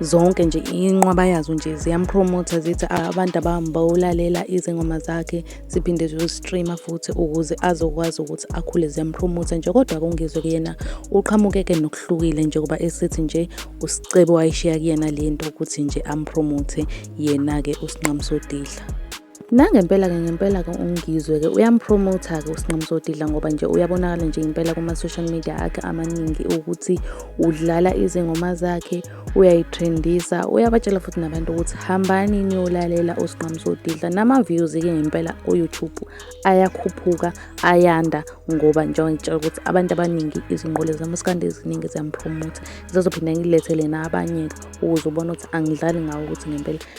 zonke nje inqwaba yazo nje ziyampromotha zithi abantu abambawulalela izingoma zakhe ziphinde ziyostreama futhi ukuze azokwazi ukuthi akhule ziyampromotha nje kodwa kungizwe kuyena uqhamukeke nokuhlukile njengoba esithi nje usicebo wayishiya kuyena le nto ukuthi nje ampromothe yena-ke usinqamusodidla Nangempela-ke ngempela-ke uNgizwe-ke uyampromotha-ke uSinqamisodidla ngoba nje uyabonakala nje impela kuma-social media akhe amaningi ukuthi udlala izingoma zakhe uyayitrendisa uyabatshela futhi nabantu ukuthi hambani niyolalela uSinqamisodidla nama-views-ke ngempela ku-youtube ayakhuphuka ayanda ngoba njengoba ngitshela ukuthi abantu abaningi izinqole zamaskandi eziningi ziyampromotha zizophinda ngilethele nabanye-ke ukuze ubone ukuthi angidlali ngawo ukuthi ngempela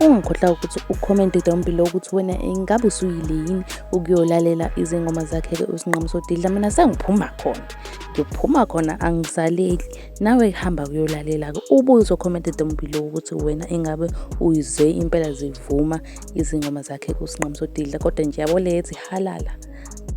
ungakhohlwa ukuthi ucommente down below ukuthi wena ingabe usuyile yini ukuyolalela izingoma zakhe-ke usinqamu sodidla mina sengiphuma khona ngiphuma khona angisaleli nawe hamba kuyolalela-ke ubuye uzocommente down below ukuthi wena ingabe uyizwe impela zivuma izingoma zakhe usinqamu sodidla kodwa nje yabo leyethi halala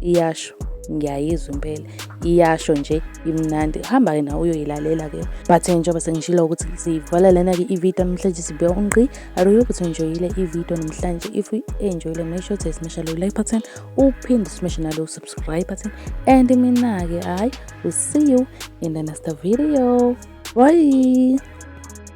iyasho ngiyayizwa impela iyasho nje imnandi hamba-ke nawe uyoyilalela-ke but njengoba sengishilo ukuthi sivala lena-ke ividiyo namhlanje sibuya ungqi aruyo ukuthi enjoyile ividiyo namhlanje if enjoyile make sure to smasha lo like button uphinde smashe nalo subscribe button and mina-ke hayi will see you in the next video bye